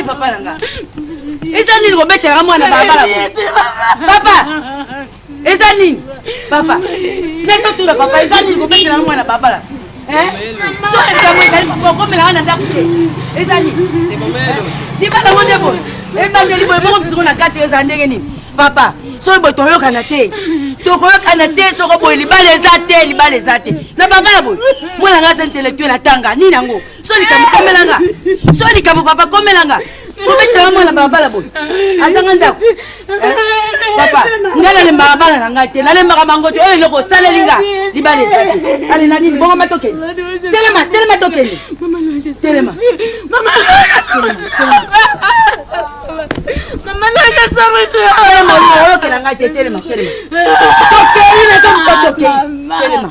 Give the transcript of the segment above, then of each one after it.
papa na nga eza nini kobetela nga mwana balabala papa eza nini papa ndenge otuna papa eza nini kobetela na mwana babala soesango ezali kokomela wana ndako te eza nini libala ngo nde boye ebandeli boye moko bisoko na kati ezala ndenge nini papa soki boye toyokana te tokoyokana te soko boye libala eza te libala eza te na papa ya boye mwana nga aza intellectuel atanga nini yango so likambo komelanga so likambo papa komelanga kobetela mwana babala boye azanga ndako papa nga nalembaka bana na ngai te nalembaka bango te oyo eloko osaleli nga libala eza te ale na nini bongo matokende telema telema tokende telema oyokela ngai te telema telema tokei na to moto tokei telema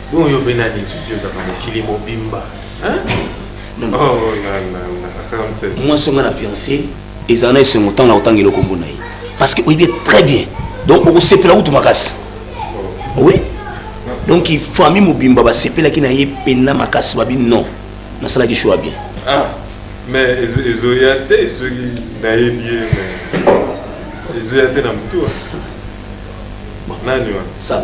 Bon yo pe nani lisusu ozaka mokili mobimba oh, mwasi onga na fiance ezala na esengo ntango na kotanga eloko mbo na ye parce que oyebi très bien donc okosepela kutu makasi oh. oui donc famille mobimba basepelaki na ye mpena makasi babi non nasalaki choix bien ah, mais ezoya te soki nayebi ye ezoya te na motu nani wana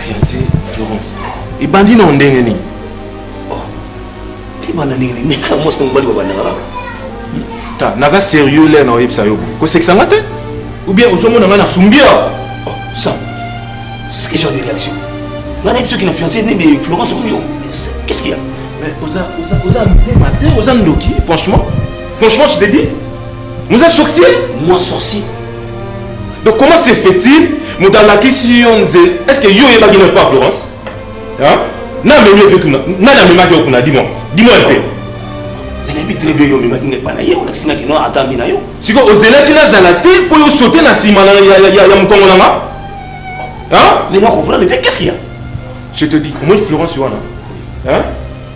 fiancé florence ebandi na ondenge nini oh, ebanda ndenge nini meka mwasi na mobali babandaka kaka ta naza sérieux lere na oyebisa yo kosekisa nga te ou bien ozomona ngai nasumbia oh, sam c'est ce que genre de réaction nga nayebi soki na fiancé nde de florence oyo qu'est ce qu'il y a mais oza oza oza motema te oza ndoki franchement franchement je te dis Muza sorcier Moi sorcier. Donc comment se fait-il moto alakisi yo nzela est ce que yo oyebaki na pa Florence hein na memi yo kuna nani amemaki yo kuna dis-moi dis-moi un peu mais nayebi très bien yo omemaki ngai epai na ye olakisi nga kino atambi na yo sikoyo ozelaki nazala te mpo yo sote na nsima ya mokongo na nga mais na comprendre te qu'est ce qu'il y a je te dis omoni florence wana hein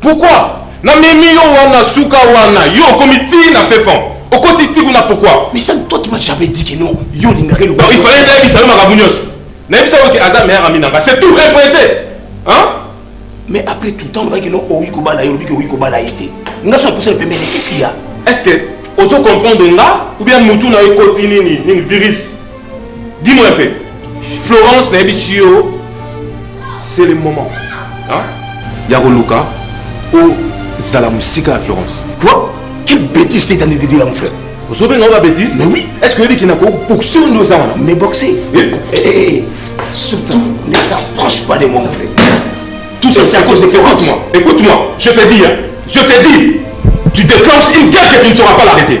Pourquoi na memi yo wana suka wana yo okomi ti na fefon okoti ti kuna pourquoi? Mais ça toi tu m'as jamais dit que non yo olingaka eloko. Donc il fallait nayebisa yo makambo nyonso nayebisa yo ke aza meilleur ami na nga c'est tout rien point te hein? Mais après tout temps olobaki no owi kobala ye olobi ke owi kobala ye te nga so aposana pembeni qu'est-ce qu'il y a? Est-ce que ozo comprendre nga ou bien mutu na yo ekoti nini nini virus? Dis-moi un peu. Florence nayebisi yo c'est le moment hein? ya koluka ozala mosika ya Florence. Quoi? Quelle bêtise t'es en train de dire là mon frère? ozobenga oyo babétise mais oui est ce que oyebi kina koboxe oyo nde oza wana mais boxe surtout ne t'approche pas de moi mon frère tout ça c'est à cause de Florence écoute-moi je te dis hein, je te dis tu déclenches une guerre que tu ne sauras pas l'arrêter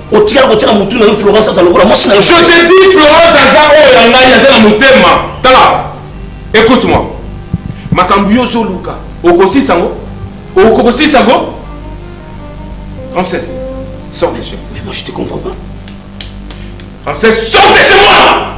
otikala kotiaka motu na yo florence aza lokola mwasi na yo je te dis florence aza oyo ya ngai aza na motema tala écoute moi makambo yo ozoluka okosisa yango okokosisa yango ramses sort de chez moi mais moi je te comprends pas ramses sort de chez moi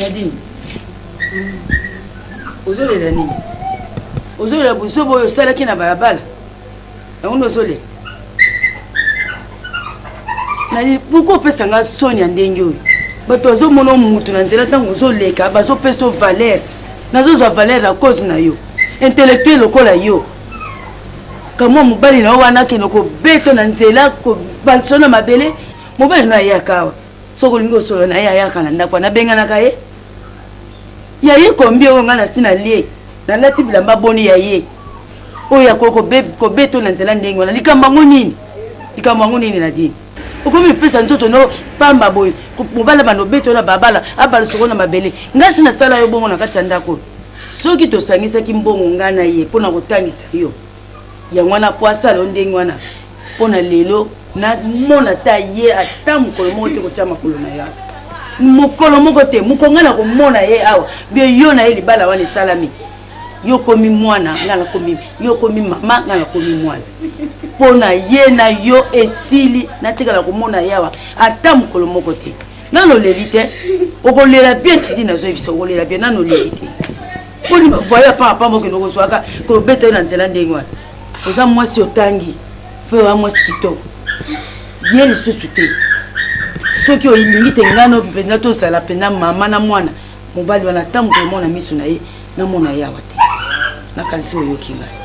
nadine ozolela nini ozolela buzoba oyo osalaki na balabala yango nde ozolela nani pourkui opesa nga soni ya ndenge oyo bato bazomona motu na nzela ntango ozoleka bazopesa o valeur nazozwa valeur na cause na yo intellectuel lokola yo kamwa mobali na yo wana akende kobeta na nzela bansona mabele mobali na yo ayaka awa soki olingi osolo na ye ayaka na ndako wana abenganaka ye ya ye kombi oyo ngai nasi nalie nalati bilamba boni ya ye oyo akoki kobeto na nzela ndenge wana likambo yango nini likambo yango nini na dini okomi opesa nzoto no pamba boye mobala bana obeto na babala abala soko na mabele ngai si nasala yo bongo na kati ya ndako oyo soki tosangisaki mbongo ngai na ye mpo na kotangisa yo yango wana po asala o ndenge wana mpo na lelo namona ata ye ata mokolo moko te kotya makolo na yo mokolo moko te mokonga na komona ye awa bio yo na ye libala wana esalami yo okomi mwana nga nakomi yo okomi mama nga nakomi mwana mpo na ye na yo esili natikala komona ye awa ata mokolo moko te nano oleli te okolela bien tidi nazoyebisa okolela bien nano oleli te poni bavoye apanga pamba okende kozwaka kobeta ye na nzela ndenge wana oza mwasi otangi mpe oya mwasi kitoko ye lisusu te soki olingi te ngano mpenza tozala mpenza mama na mwana mobali wana ata moto omona miso na ye namona ye awa te nakanisi oyoki ngai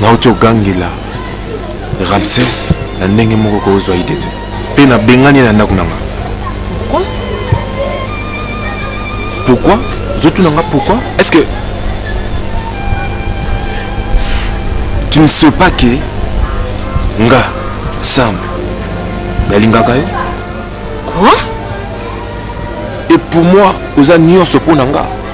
nauti ogangela ramses na ndenge moko kozwa ide te mpe nabengani ye na ndako na nga pourquoi ozotuna nga pourquoi est ce que tu ne sais pas que nga sam nalingaka yo quoi et pour moi oza nyonso mpo na nga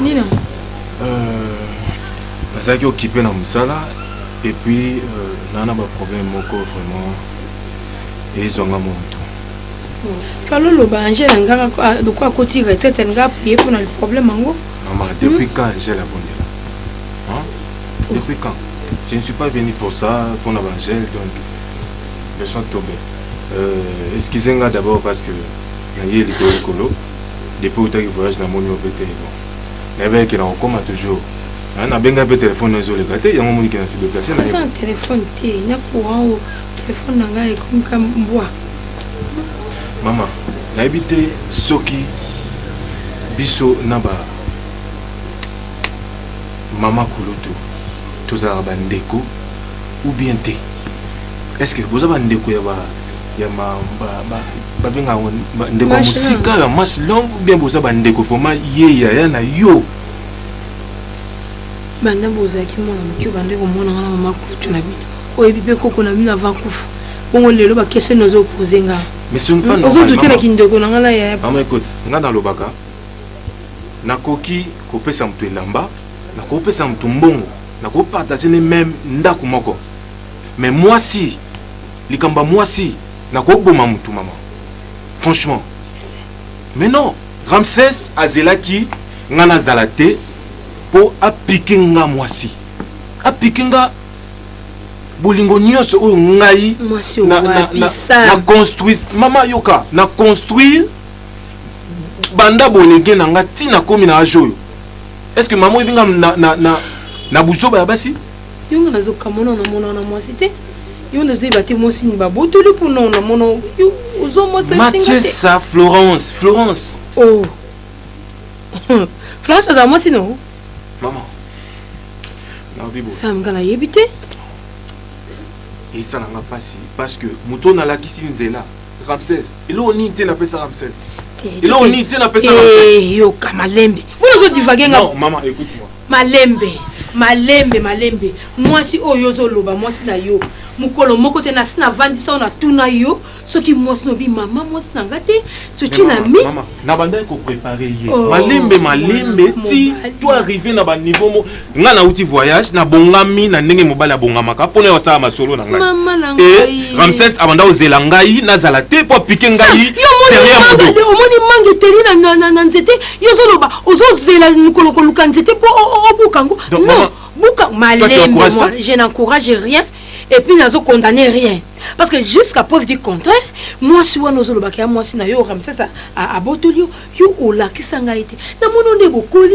nini yango euh, nazalaki okipe na mosala epuis euh, naa na baproblème moko vraiment ezwanga moto kalo loba angele angaka ah, lokola akoti retraite alinga apriye mpo na problème yango mama depuis hmm? quand angele abondela depuis quand je ne suis pas venu pour ça mpo na baangele donc besoin tobe euh, excuse nga d'abord parce que naye likolo likolo depuis outaki voyage namoni yo mpe te bon nayebi eke na kokoma toujours ah, nabengai mpe telefone ezoleka te yango monike na sideplace na telefone te na courant o telefone na ngai ekomika mbwa mama nayebi te soki biso na ba mama kulutu tozalaka bandeko ou bien te est ce que boza bandeko ya ba ya ma, ba, ba, babenga yango ndeko ya mosika ya match long ou bien boza bandeko vraimen ye yaya na yo banda bozalaki mwana moke obanda komona nga na mama kutu na bino oyebi mpe koko na bino avant kufa bongo lelo bakeseni ozo opose nga ozo dute na kindeko na nga na yaya mama ekote nga nalobaka nakoki kopesa moto elamba nakopesa moto mbongo nakopartage ne meme ndako moko mais mwasi likambo ya mwasi nakoboma motu mama franchement mais non ramses azelaki nga nazala te mpo apike nga mwasi apike nga bolingo nyonso oyo ngai na, na, na, na construise mama yoka na construire banda bolenge na nga ntina komi na age oyo est ce que mama oyebi nga na, na, na, na buzoba ya basi yo nga nazo kamona ona mona ona mwasi te yo nazo yeba te mwasi ni babotoli mpo na ona mona yo ozo mwasi matiesa florence florence oh florence aza mwasi no mama sam nga nayebi te esalanga mpasi parce que moto oyo nalakisi nzela ramses eloko nini te napesa ramses eloko nini te napesa yoka malembe mbona ozodivage nga mama écoute moi malembe malembe malembe mwasi oyo ozoloba mwasi na yo mokolo moko te nasi navandisa oyo natuna yo soki mwasi nobi mama mwasi na nga te soki na mi nabandaki koprepare ye oh, malembe malembe ti to arrive na baniveau mo nga nauti voyage nabongami na ndenge mobali abongamaka mpo na yo asala masolo na ngai Mama na e ngai. ramses abanda kozela ngai nazala te mpo apike ngai Yo omoni terrain ya manga- modo omoni manga eteli na- na- na- na nzete yo ozoloba ozozela mokolo koluka nzete mpo o- o- obuka yango Donc, non maman, buka tu malembe encourages moi ça je n'encourage rien et puis nazo condamne rien parce que jusqu'à preuve du contraire mwasi wana ozolobaka ya mwasi na yo ramsesa abotoli yo yo olakisa ngai te namoni nde bokoli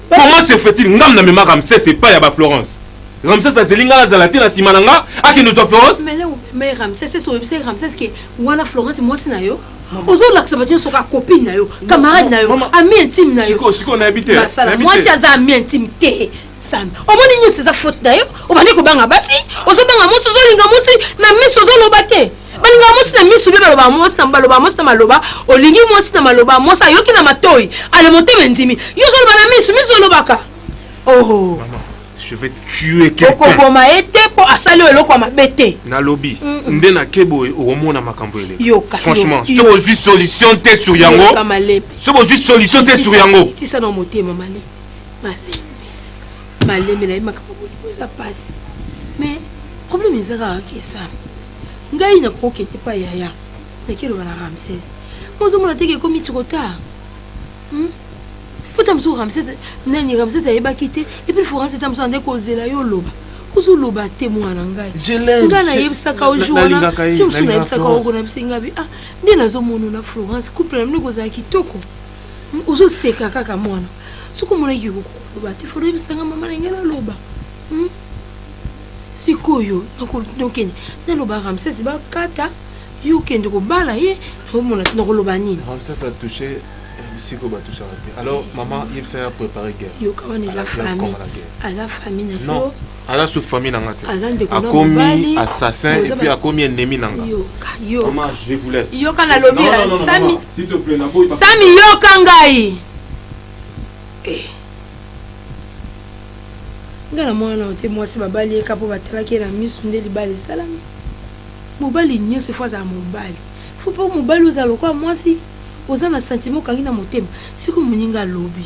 comment se fait-il ngam na mema ramsès epai ya ba florence ramsès azeli ngai nazala te na nsima na nga akende zwa florence mais ramsès esi oyebisa ye ramsès ke wana florence mwasi na yo ozolakisa bato nyonso kaka copine na yo camarade na yo ami intime na yoyomwasi aza ami intime te sami omoni nyonso eza faute na yo obandi kobanga basi ozobanga mwasi ozolinga mwasi na miso ozoloba te balingaka mwasi na misu mpe baloba mwasi na baloba mwasi na maloba olingi mwasi na maloba mwasi ayoki na matoi ale motema endimi yo ozoloba na misu misu olobaka oho je vais tuer quelqu'un okoboma ye te mpo asali oyo eloko ya mabe te nalobi nde nake boye okomona makambo ele yoka franchement soki ozwi solution te sur yango soki ozwi solution te sur yango tisa na motema male male malembe na ye makambo bolingo eza mpasi mais problème eza kaka kesana ngai nakokokende pa yaya nakeloba na ramses mozomona teke ekomi trop tard hmm? pota mosuku ramses nani ramses ayebaki te epuis forance ta mosuku ande kozela yo oloba ozoloba te mwana ngai ngai nayebisaka ojour wana yo mosuku nayebisaka oko na bisengabi ah nde nazomonona florence couple na bino ekozala kitoko ozo seka kaka mwana soki omonaki okoloba te fo oyebisanga mama na ngai naloba hmm? sikoyo nakende naloba ramsese bakata yo okende kobala ye nakomona nakoloba nini ramsese atouche bisiko batouchaka te alors mama yebisa ya prépare guerre yoka wana eza famille aza famille na yo aza sous famille na nga te akomi assassin et puis akomi ennemi na nga yoka nalobi sami sami yoka ngai eh. nga na mwana na te mwasi babali yeka mpo batalaki ye na miso nde libala esalami mobali nyonso efo azala mobali fo mpo mobali ozala lokola mwasi oza na sentiment okangi na motema sikoyo moninga alobi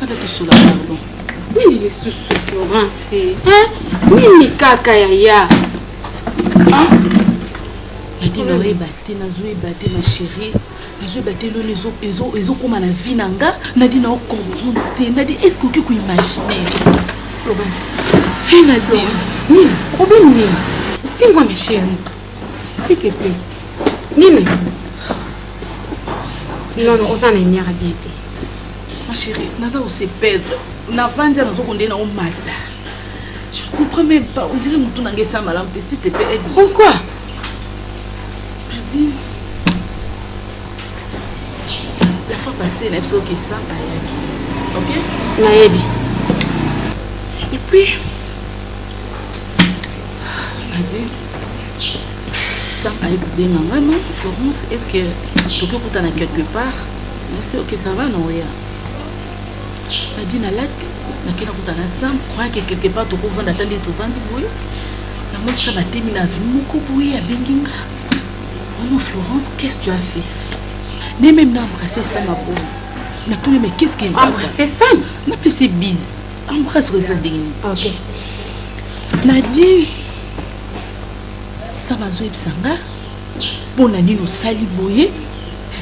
Fata tosola pardon. Nini lisusu Florence? Hein? Nini kaka yaya? Hein? Yadi na oyeba te nazoyeba te ma chérie. Nazoyeba te loni ezokoma na vie na nga nadi na ocomprendre te nadi est-ce que oki koimaginer Florence. Hey, Nadine. Problème nini? Tingwa ma chérie. S'il te plaît. Nini? Non, non, oza na emiara bien te. Ma chérie, naza ko se perdre. Na vanja nazo konde na omata. Je ne comprends même pas. On dirait mutu nange sa malamu te. S'il te plaît, aide-moi. Pourquoi? Perdu. La fois passée, na biso ke sa ayaki. OK? Nayebi. Et puis, Nadine, sam aye kobenga nga no florence est ce que toki okutana quelque part nasi ok ça va naoya nadi nalati nakenda kutana sam croyake quelque part tokovanda ata nde tovandi boye yango sa batemi na aveni moko boye abengi nga ono florence qu'est ce tu as fait ne meme na embrasse sam aboye natuni mais qu'est ce que embrasse sam napesi bise embrasse oyo eza ndenge nini ok nadine saba azoyebisa nga mpo na nini osali boye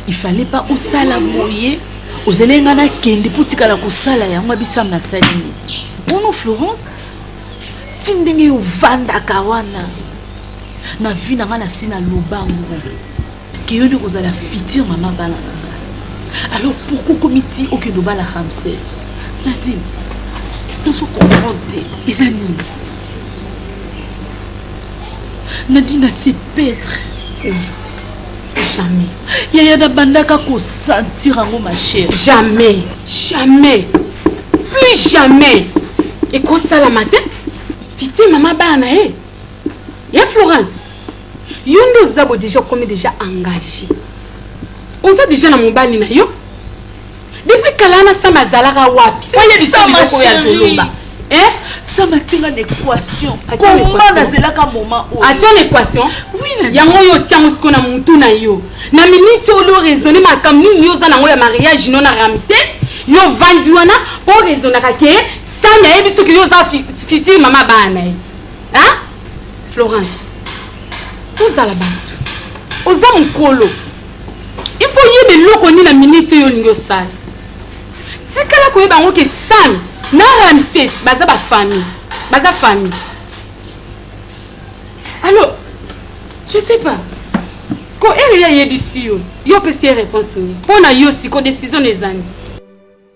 il fallait pas osala boye ozali ngai nakende mpo tikala kosala yango abisam nasali nini ono florence ti ndenge ovandaka wana na vi na ngai nasi naloba ngo Keyoni kozala futur mama bana na nga. Alors pourquoi komi ti okende obala Ramsès? Nadine, tozo comprendre te. Eza nini? Nadine se perdre. Jamais. Yaya nabandaka ko sentir yango ma chère. Jamais. Jamais. Plus jamais. Ekosalama te. Fiti mama bana ye. Ya Florence. yo nde oza bo deja okomi deja engage oza deja na mobali na yo depuis kala na sama azalaka wapi oye bisobiloko oyo azoloba eh? sama tinga na équation komba nazelaka moment oyo atia na équation yango oyo otiango siko na motu na yo na miniti oyo lo raisonne makambo nini yo oza nango ya mariage no na ramses yo ovandi wana mpo raisonnaka ke sami ayebi soki yo oza fitire mama bana na ye florence tozala bato oza mokolo ifo oyeba eloko nini na miniti oyo olingi osala tikala koyeba yango ke sami na ramses baza bafamille baza famille alors je sais pas siko ere ye ayebisi yo yo opesi ye réponse nini mpo na yo siko décision na ezani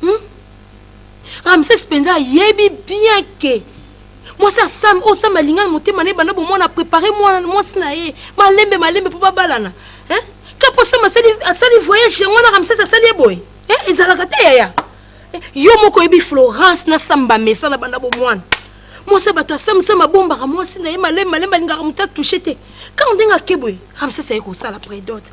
hmm? ramses mpenza ayebi bien ke mwasi asam oyo sam alinga na motema na ye banda bomwana aprépare mwasi na ye malembe malembe mpo babalana ka mpo sam asali voyage yango wana ramses asali ye boye ezalaka te yaya yo moko oyebi florence na sam bamesana banda bomwana mwasi ya bato asamsama abombaka mwasi na ye malembe malembe alingaka moto atouche te kaka ndenge ake boye ramses aye kosala predote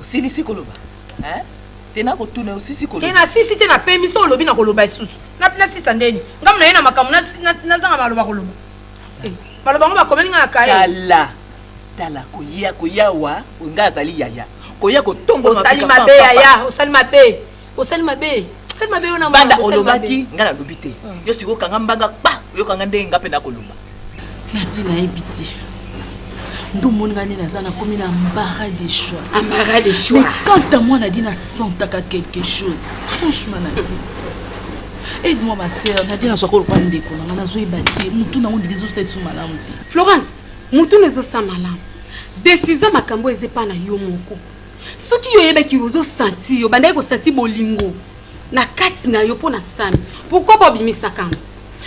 osilisi koloba hein? te nakotuna osisi koloba te nasisi te napemi so olobi nakoloba lisusu nasisa ndeni ngamu naye na makambo nazanga maloba koloba eh, maloba ngo bakomeli nga na kaye tala tala koya koya wa nga azali yaya koya kotongoosali mabe yaya osali mabe osali mabe osali mabe yo na banda olobaki nga nalobi te hmm. yo sikoyo kanga mbanga kpa oyokanga ndenge nga mpe nakoloba nati nayebi te ndo omoni nga nde naza nakomi na mbara de choix ambara de choix mais quant à moi nadi nasentaka quelque chose franchement nati aide moi ma sœur nadi nazwaka olokola ndeko nanga nazoyeba te motu nango ndiki ezosala esu malamu te florence motu na ezosala malamu desizio makambo eza epai na yo moko soki yo oyebaki ozo santi yo bandaki kosanti bolingo na kati na yo mpo na sami pourkoi bobimisaka yango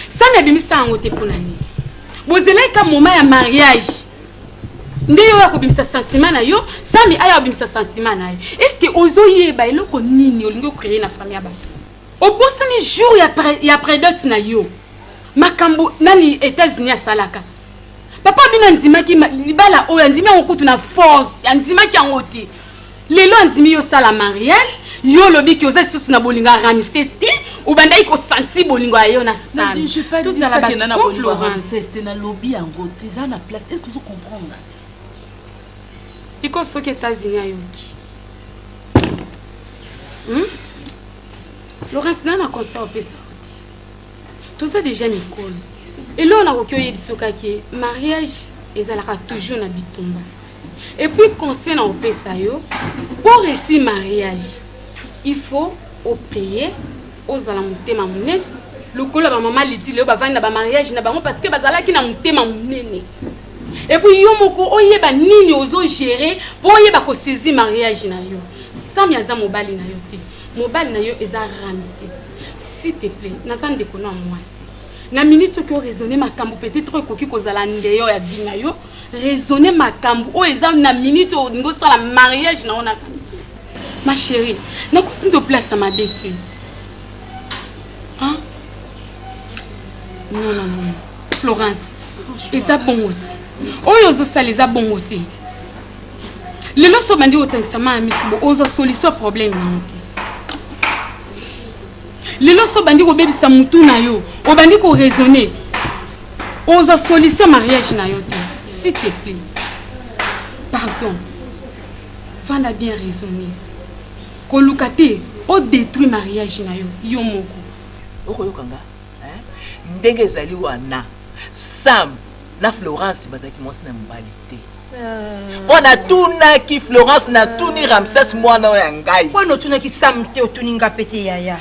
sami abimisa yango te mpo na nini bozelaki ka moma ya mariage nde yo ya kobimisa sentiment na yo sami aya kobimisa sentiment na ye estce ozoyeba eloko nini olingi okreye na fami ya bato obosani jour ya, pre, ya predot na yo makambo nani etats-unis asalaka papa bino andimaki libala oyo andimi yango kutu na force andimaki yango te lelo andimi yo osala mariage yo olobi ke oza lisusu na bolingo ya ramises te obandaki kosanti bolingo ya yo na samitozala baoranste nalobi yango te eza na place est ce que ozo comprendre sikoyo soki etats-unis ayoki hmm? florence nana conseil opesa toza deja mikolo eloko nakoki oyebisa okaki mariage ezalaka toujours na bitumba epuis conseil na opesa yo mpo resi mariage il faut opeye ozala motema monene lokola bamama liti leo bavandi na bamariage na bango parce que bazalaki na motema monene epuis yo moko oyeba nini ozo gere mpo oyeba kosaizi mariage na yo sami aza mobali na yo te mobali na yo eza ramsit s'il te plaît naza ndeko na mwasi na minute soki oraisonne makambo peut-être ekoki kozala ndeyo ya vi na yo raisonne makambo oyo eza na minute oyo olingi osala mariage na yo na ramsit ma chérie nakuti ndo place ya mabe te non non non florence eza bongo te oyo ozosala eza bongo te lelo so obandi kotangisa maa ya misu bo ozwa solution problème yango te lelo so obandi kobebisa motu na yo obandi koraisonne ozwa solution mariage na yo te s'il te plaît pardon vanda bien raisonne koluka te odétruit mariage na yo yo moko okoyoka nga hein? ndenge ezali wana sam na florence bazalaki mwasi na mobali te euh. mpo natunaki florence natuni ramses mwana oyo ya ngai mpo notunaki sam te otuni nga mpe te yaya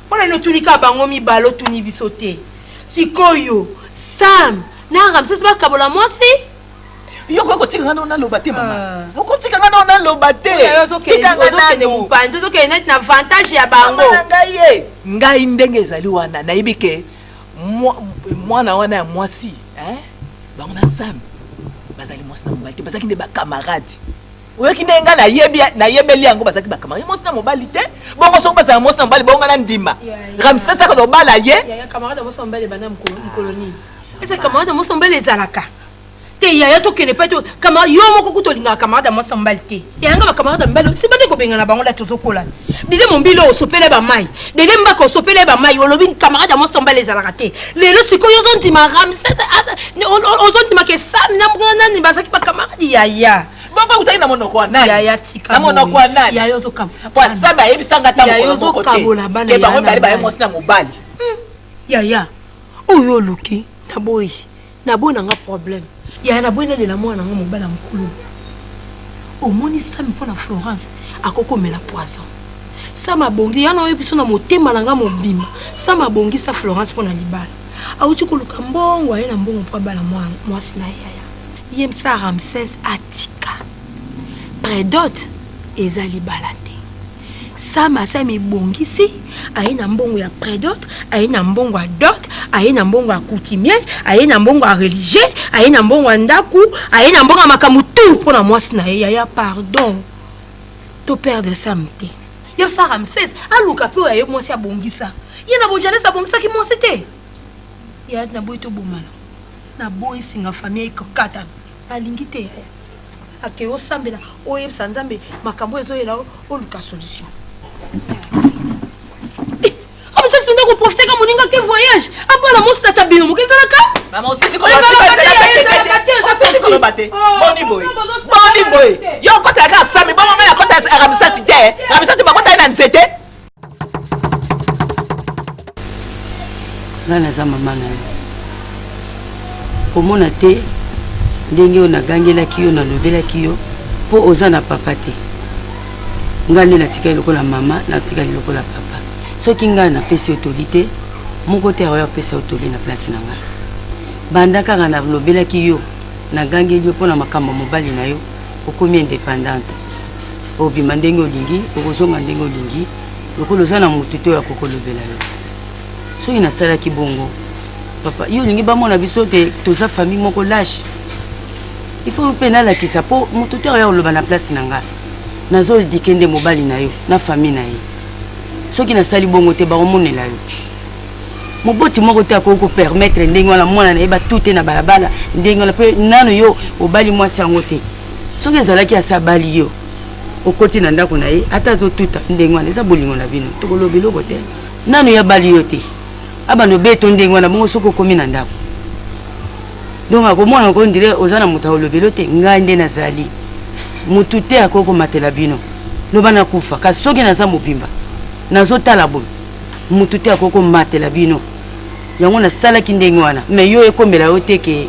mpo na notuni kaka bango mibale otuni biso te sikoyo sam na ramses bakabola mwasi yo okoki kotika nga nao naloba te mama ah. okotika nga nao naloba te tika nga nanu ozokende neti na avantage ya bango na ngai ye ngai ndenge ezali wana nayebi ke mwana wana ya mwasi bango na sami bazali mwasi na mobali te bazalaki nde bakamarade oyoki ndenge ngai nayebi nayebeli yango bazalaki bakamarade mwasi na mobali te bongo soki bazala mwasi na mobali bongo ngai na ndima ramsesaka lobala ye eza camarade ya mwasi na mobali ezalaka te yaya tokende mpe kama yo moko kutu olingaka camarade ya mwasi ya mobali te yayanga bacamarade ya mibali osibande kobengana bango lati ozokola dede mombilo osopele bamai dede mbaka osopele bamai olobi camarade ya mwasi ya mobali ezalaka te lelo sikoyo ozondima ramses ozondimaka esami na mwa nani bazalaki bacamarade yaya bongo autaki na monoko ya nanina monoko ya nani po asami ayebisanga ntangokotebango mibali baye mwasi na mobali hmm. yaya oyo oluki na boyi naboyi na nga problème yaya naboyi nalela mwana yango mobali ya mokulu omoni sami mpo na florence akoki komela poison sam abongi yana oyebi biso na motema na nga mobima sam abongisa florence mpo na libala awuti koluka mbongo aye na mbongo mpo abala mwasi na yaya ye msa ramses atika predote eza libala te Sam asa mibongisi aye na mbongo ya predot aye na mbongo ya dot aye na mbongo ya coutumier aye na mbongo ya religieux aye na mbongo ya ndako aye na mbongo ya makambo tu mpo na mwasi na ye yaya pardon to perdre sam te yo sa ramses aluka mpe oyo aye mwasi abongisa ye na bojanes abongisaki mwasi te ya naboyi tobomana naboyi singa famille ekokatana alingi te yaya ake osambela oyebisa nzambe makambo oyo ezoyela oluka solution omisasi mpenza koprofite ka moninga ke voyage abala mosi tata bino moke ezalaka koloba te boni boye boni boye yo okotelaka asami bomamela kota aramisasi te aramisasi bakotali na nzete ngai naza mama na yo komona te ndenge oyo nagangelaki yo nalobelaki yo mpo oza na papa te ngai nde natikali lokola mama natikali lokola papa soki ngai napesi yo toli te moko te akoya kopesa yo toli na place na ngai banda kaka nalobelaki yo nagangeli yo mpo na makambo ya mobali na yo okomi independante obima ndenge olingi okozonga ndenge olingi lokola oza na motu te oyo akokolobela yo soki nasalaki bongo papa yo olingi bamona biso te toza famille moko lashe il faut mpe nalakisa mpo motu te oya koloba na place na ngai nazodike nde mobali na yo na famille na ye soki nasali bongo te bakomonela yo moboti moko te akoki kopermettre ndenge wana mwana na ye batute na balabala ndenge wana mpe nano yo obali mwasi yango te soki ezalaki asi abali yo okoti na ndako na ye ata azotuta ndenge wana eza bolingo na bino tokoloba eloko te nanu ya bali yo te abanda obeto ndenge wana bongo soki okomi na ndako donc akomona yango ndire oza na moto akolobelo te ngai nde nazali motu te akoki komatela bino loba nakufa kasi soki naza mobimba nazotala boye motu te akoki komatela bino yango nasalaki ndenge wana me yo ekomela yo te ke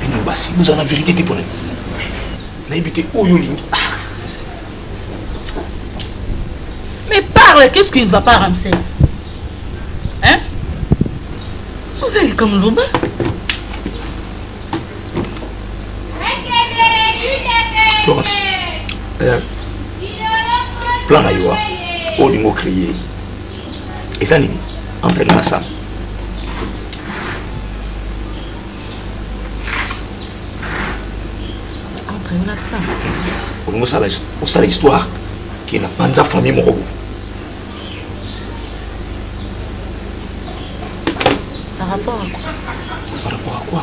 bino basi bozala na verité te mpo nani nayebi te oyo olingi ah. mais parle qu'est ce qui ne va pas ramsès hein soza likambo loba florence eh, plan na yo olingo créer eza nini entre nga na sam entre nga na sam olingi osala osala histoire ke na panza famille moko boye par rapport à quoi par rapport à quoi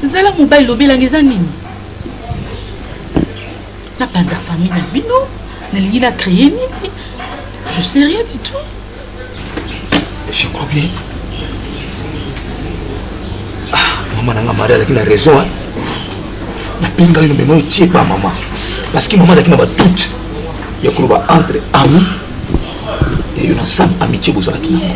zala mobali lobelanga eza nini napanza famille na bino nalingi na créer nini je sais rien du tout je crois bien ah, mama nanga mari alaki na raison nabenga yo na mema otie ba mama parce que mama azalaki na badoute ya koloba entre ami ya yo na sam amitié bozalaki nango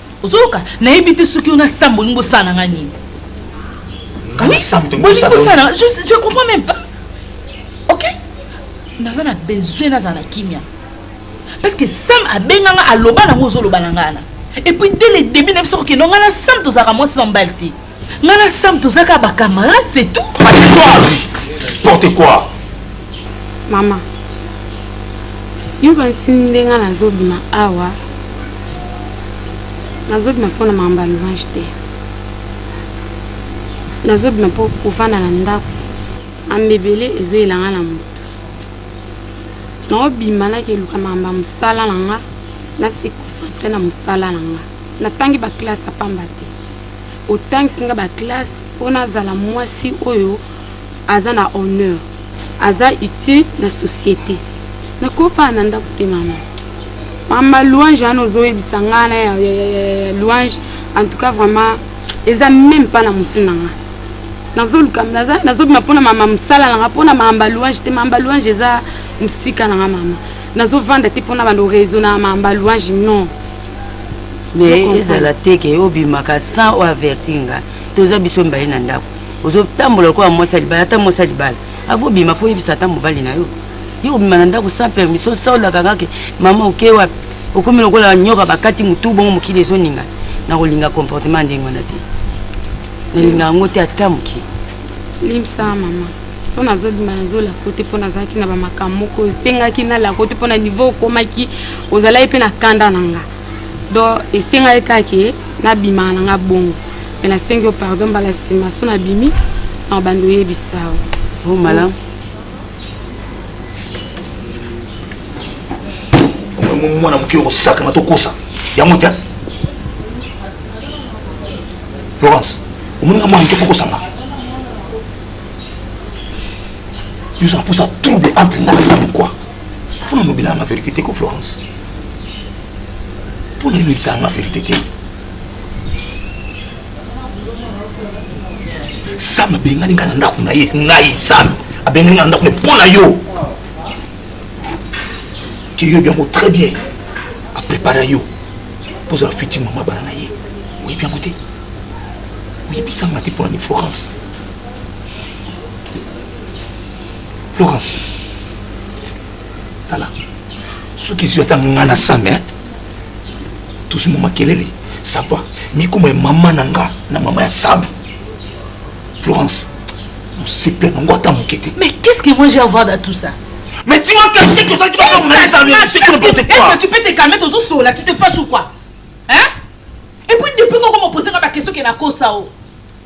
ozoyoka nayebi te soki yo na sam bolingi bosala na ngai nini bolingi bosala na je comprends même pas ok naza na besoin nazala na kimia parce que sam abenga nga aloba nango ozoloba na ngai na epuis dès le début na biso kokende nga na sam tozalaka mwasi na mobali te nga na sam toza kaka bacamarade c'est tout porte quoi mama yoka nsini nde nga nazobima awa nazobima mpo na makambo ya louange te nazobima mpo kofanda na ndako ambebele ezoyela nga na moto naobima nakeluka makambo ya mosala na nga nasi concentre na mosala na nga natangi baklasse ya pamba te otangisi nga ba classe mpo nazala mwasi oyo aza na honneur aza utile na société nakofana na ndako te mama mama louange wana ozoyebisa nga na louange en tout cas vraiment eza meme mpa na motu na nga nazoluka nazobima mpo na mama mosala na nga mpo na mamba louange te mamba louange eza mosika na nga mama nazovanda te mpona bando raisona mamba louange non mais ezala te ke obimaka sans oavertir nga toza biso mibale na ndako ozotambola lokola mwasi ya libala ata mwasi ya libala akobima fo oyebisa ata mobali na yo ye obima na ndako sans permission sa olaka nga ke mama oke wapi okomi lokola nyoka bakati motu bongo mokili ezoninga nakolinga comportement ndenge wana te nalinga yango te ata moke limsa mama so nazobima nazo lako te mpo nazalaki na bamakambo moko esengaki na lako te mpo na niveau okomaki ozalaki mpe na kanda na nga donc esengaki kake nabimaka na nga bongo me nasengi yo pardon mbala nsima so nabimi na bando oyebisa o oh, malamu mwana moke okosakana tokosa yango te florence omoninga mwana moke okokosanga yo ozala mposa trouble entre nga na sam kua mpo na lobela yanga verité te ko florence mpo na lobisa yanga verité te sam abengani ngai na ndako na ye ngai sam abengani ngai na ndako na mpo na yo ke yo biango très bien aprépara yo mpo ozala futi mama bana na ye oyebi yango te oyebisanga te mpo na ni florence florence tala soki ezwi ata nga na same tozwi mwa makelele sava mikoma ya mama na nga na mama ya same florence mosepela nango ata moke te mais qu'est ce que moi j'ai avoir dans tout ça Mais dis-moi qu'est-ce que tu fais Est-ce que tu peux te calmer T'es au sol là, tu te fâches ou quoi Hein Et puis depuis qu'on m'a posé ma question qui est la cause ça oh.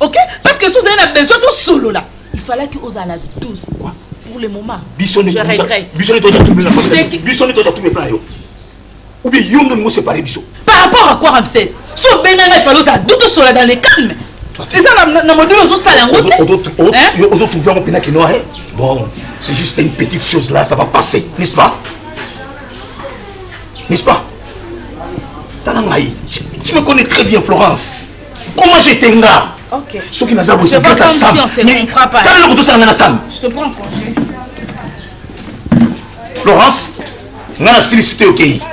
ok parce que sozali na besoin tosolola il fallait que ozala na douce quoi pour le moment biso nde toza trouble na famille biso nde toza trouble plan yo ou bien yo nde mongo séparé biso par rapport à quoi ramsès so obenga ngai fallait ozala douce tosolola dans le calme eza na module ozosala yango te ozotrouve yango mpena kenoa bon c'est juste une petite chose là ça va passer n'est-ce pas n'est-ce pas tala ngai tu me connais très bien florence comment je te nga okay. soki naza boye c'est grâce à sam mais tala eloko tosala nga na sam je te prends congé Laurence nga na silisi te okei okay.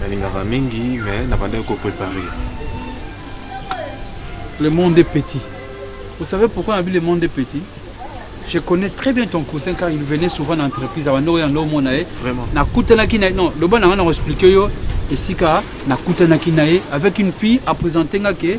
nalingaka mingi mais nabandaki ko préparer le monde est petit vous savez pourquoi nabi le monde est petit je connais très bien ton cousin car il venait souvent na entreprise abanda oya ndo omona ye nakutanaki na ye non loba na nga na koexplike yo esika nakutanaki na ye avec une fille apresente nga ke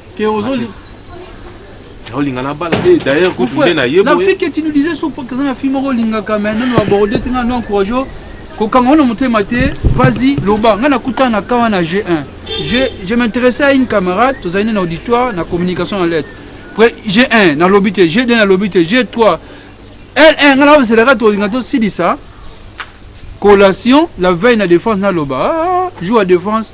Que ozo olinga na bala te d'ailleurs kutu nde na ye boye na fike tu nous disais sur que na fille moko olingaka mais nanu aborde te nga no encourage kokanga wana motema te vas-y loba nga nakutana na kawa na G1 je je m'intéressais à une camarade tozali na auditoire na communication na lettre après G1 na lobi te G2 na lobi te G3 L1 nga na ozelaka tolinga tosilisa collation la veille na défense naloba ah, jour ya défense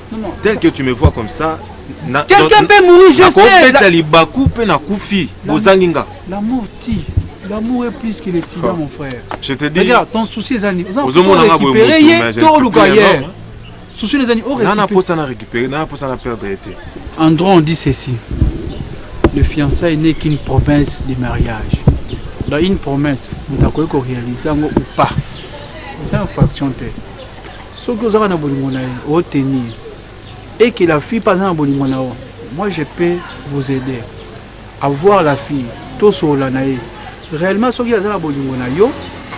tel que tu me vois comme ça quelqu'un peut mourir je sais la... libaku pe na kufi bozangi nga l'amour ti l'amour est plus que le sida oh. mon frère je te dis regarde ton souci est ani ozomona nga boye mais to luka hier souci les ani ore nana posa na récupérer nana posa na perdre été Andron dit ceci le fiançailles n'est qu'une promesse de mariage dans une promesse moto akoki koréalise yango ou pas eza infraction te soki ozaka na bolingo na ye otenir et que la fille mpe aza na bolingo na yo moi je peux vous aider à voir la fille tosolola na ye réellement soki aza na bolingo na yo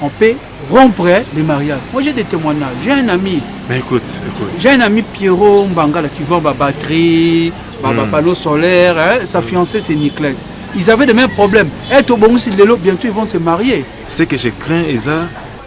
on peut rompre le mariage moi j'ai des témoignages j'ai un ami Mais écoute, écoute. j'ai un ami pierrot mbangala qui vend ba batterie ba, ba Hmm. panneau solaire hein, sa fiancée c'est niclette ils avaient les mêmes problèmes et tobongisi lelo bientôt ils vont se marier Ce que je crains, Isa,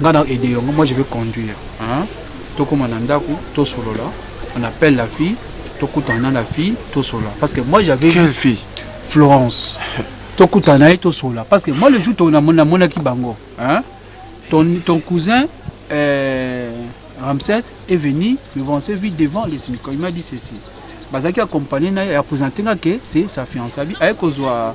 nga na aide yo moi je vais conduire hein tokoma na ndako tosolola on appelle la fille tokutana na la fille tosolola parce que moi j'avais quelle fille Florence tokutana na ye tosolola parce que moi le jour namonaki bango hein ton, ton cousin euh, Ramsès est venu me vancer vite devant les Simicons. Il m'a dit ceci. Bazaki accompagné, il a présenté que c'est sa fiancée. Avec Kozwa